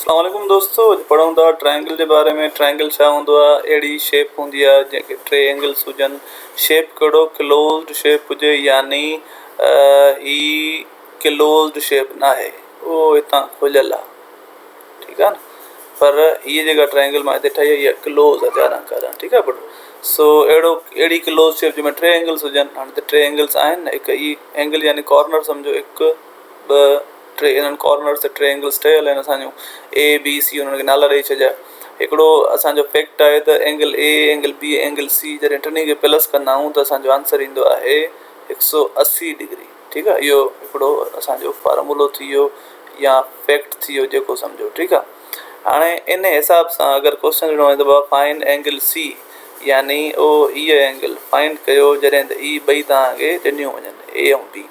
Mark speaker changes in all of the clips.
Speaker 1: اسلام عليڪم دوستو اڄ پڙهون ٿا ٽرائينگل جي باري ۾ ٽرائينگل ڇا هوندو آهي اهڙي شيپ هوندي آهي جنهن کي ٽي اينگلس هجن شيپ ڪهڙو ڪلوزڊ شيپ هجي يعني هي ڪلوزڊ شيپ ناهي اهو هتان کليل آهي ٺيڪ آهي نه پر هي جيڪا ٽرائينگل مان هتي ٺاهي اهي ڪلوز آهي چاران ڪاران ٺيڪ آهي پٽ سو اهڙو اهڙي ڪلوز شيپ جنهن ۾ ٽي اينگلس هجن هاڻي ٽي اينگلس آهن نه هڪ هي اينگل يعني ڪارنر سمجهو هڪ ٻه ٽي انهن ڪارنرز تي ٽي اينگلز ٺهيل آهن اسان جون اي بي سي انهن کي نالا ڏئي ڇڏيا هڪڙو اسان جو فيڪٽ آهي ته angle A angle B angle C جڏهن ٽنهي کي پلس ڪندا آهيون ته اسان جو آنسر ايندو آهي هڪ سؤ اسي ڊگري ٺيڪ آهي اهو هڪڙو اسان جو فارمولو ٿي ويو يا فيڪٽ ٿي ويو جيڪو سمجهو ٺيڪ آهي هاڻي انهي حساب سان اگر ڪوشچن ڏنو وڃي ته بابا فائنڊ اينگل سي يعني او اي اينگل فائنڊ ڪيو جڏهن ته اي ٻئي توهان کي ڏنيون وڃن اي ۽ بي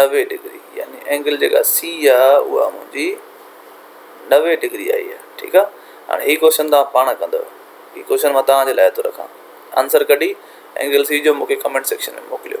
Speaker 1: نوي ڊگري يعني اينگل جيڪا سي آ اها منهنجي نوي ڊگري آئي آ ٺيڪ آ هاڻي هي ڪوشچن توهان پاڻ ڪندو هي ڪوشچن مان توهان جي لاء ٿو رکان آنسر ڪڍي اينگل سي جو مونکي ڪمينٽ سيڪشن ۾ موڪليو